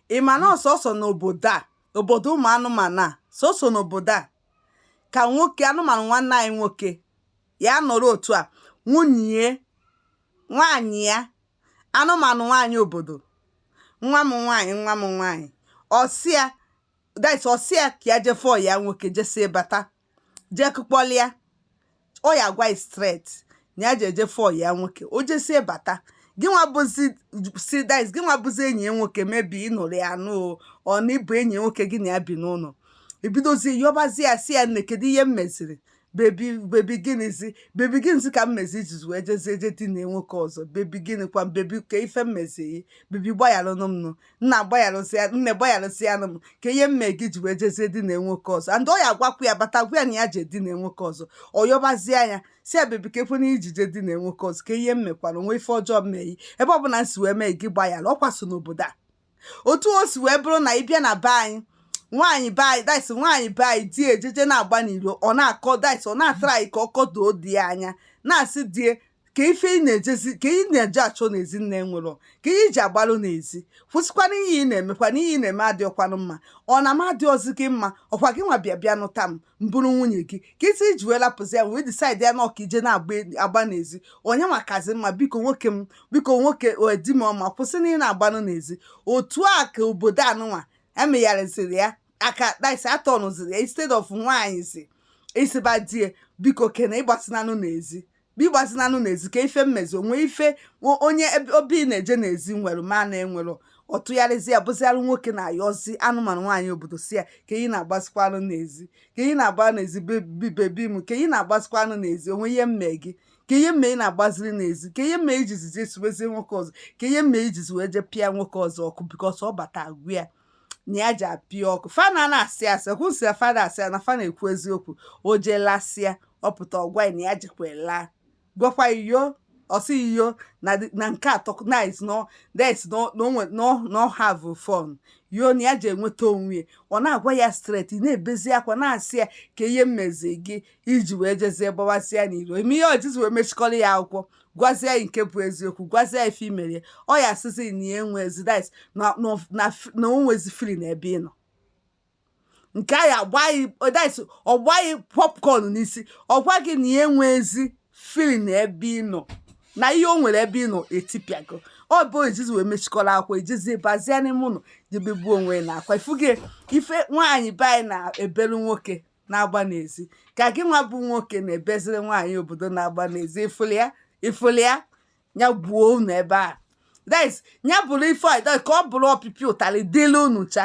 ị ma na ọ sọsọ n'obodo a obodo ụmụ anụmanụ a sọsọ n'obodo a ka nwoke anụmanụ nwanne anyị nwoke ya nọrọ otu a nwunye nwaanyị ya anụmanụ nwaanyị obodo nwa m nwaanyị nwa m nwaanyị ọ sị ya ọ sị ya ka ya je fụ ọyị ya nwoke jesie bata jee kụkpọlịa ọ ya gwa ya straight na ya ji eje fụ ọyị ya nwoke o jesie bata gị nwa bụzi gị nwa bụzi enyi ya nwoke maybe ị nụrụ ya anụ or na ị bụ enyi ya nwoke gị na ya bi n'ụlọ ị bidozie yọbazie ya sị ya nne kedu ihe m meziri baby baby gịnịzi baby gịnịzi ka m mezi i jizi wee jezie je dina nwoke ọzọ baby gịnịkwa baby kee ife m meziri baby gbayaranụ m nụ nna gbayarụsịa nne gbayarụsịanụ m kee ihe m me gị i ji wee jezie dina nwoke ọzọ and ọ ya agwakwu ya bata gwa ya na ya je dina nwoke ọzọ ọ yọbazie ya sị ya baby ka ekwe na i ji je dina nwoke ọzọ kee ihe m mekwara o nwe ife ọjọọ m me gị ebe ọ bụla m si wee mee gị gbayara ọ kwa sọ n'obodo a otu o si wee bụrụ na ị bịa na be anyị nwaanyị be anyị nwaanyị be anyị di ejeje na-agba n'iro ọ na-akọ ọ na-atara anyị ka ọ kọdoo di ya anya na-asị di ya kee ife ị na-ejezi kee ihe ị na-eje achọ n'ezi nne nwụrụ kee ihe i ji agbalụ n'ezi kwụsịkwanụ ihe ị na-emekwa na ihe ị na-eme adịọkwanụ mma ọ na m adịọzi gị mma ọ kwa gị nwa bịa bịa nụta m m bụrụ nwunye gị ka isi i ji wee lapụzi ya wee decide ya na ọ ka i je na-agba n'ezi onye makazi mma biko nwoke m biko nwoke di m ọma kwụsị na ị na-agbalụ n'ezi otu a ka obodo anụwa emegharịziri ya aka atọnụziri ya instead of nwaanyị sị ịsịba di ya biko kena agbazinanụ n'ezi biko agbazinanụ n'ezi kee ife m mezi o nwe ife onye obi na-eje n'ezi nwere mụ na-enwerọ ọ tụgharịzịa bụziara nwoke na-ayọzi anụmanụ nwaanyị obodo sị ya kee ihe ị na-agbazikwanụ n'ezi kee ihe ị na-agba n'ezi baby m kee ihe ị na-agbazikwanụ n'ezi o nwe ihe m me gị kee ihe m me ị na-agbaziri n'ezi kee ihe m me i jizi jee sobezie nwoke ọzọ kee ihe m me i jizi wee jee pịa nwoke ọzọ ọkụ because ọ bata agwa ya na ya ji apịa ọkụ fa na na-asị asị kwụsị ya fa ada asị ya na fa na-ekwu eziokwu o jee lasịa ọ pụta ọ gwa ya na ya jekwa laa gwakwa yị o ọ sị yị o na di- na nke atọ na is no that is no no nwe- no no have fun yo na ya ji enweta onwe ya ọ na-agwa ya straight ị na-ebezi akwa na-asị ya kee ihe m mezi gị i ji wee jezie gbawasịa n'iro ime ihe o jizi wee mechikọrọ ya akwụkwọ gwazie ya nke bụ eziokwu gwazie ya ife i mere ọ ya asịzi na ya enwezi na o nwezi feeling n'ebe ị nọ nke ya-agba gị ọ gba gị popcorn n'isi ọ gwa gị na ya enwezi feeling n'ebe ị nọ na ihe o nwere ebe ị nọ etipịago ọ bụ i jizi wee mechikọrọ akwa i jizi bazie n'ime ụlọ je begbuo onwe n'akwa ị fụgo ife nwaanyị be anyị na-ebelu nwoke na-agba n'ezi ka gị nwa bụ nwoke na-ebeziri nwaanyị obodo na-agba n'ezi ị fụlụ ya ya gbuo unu ebe a that is ya bụrụ ife ka ọ bụrụ ọpịpịa ụtalị dịlị unu cha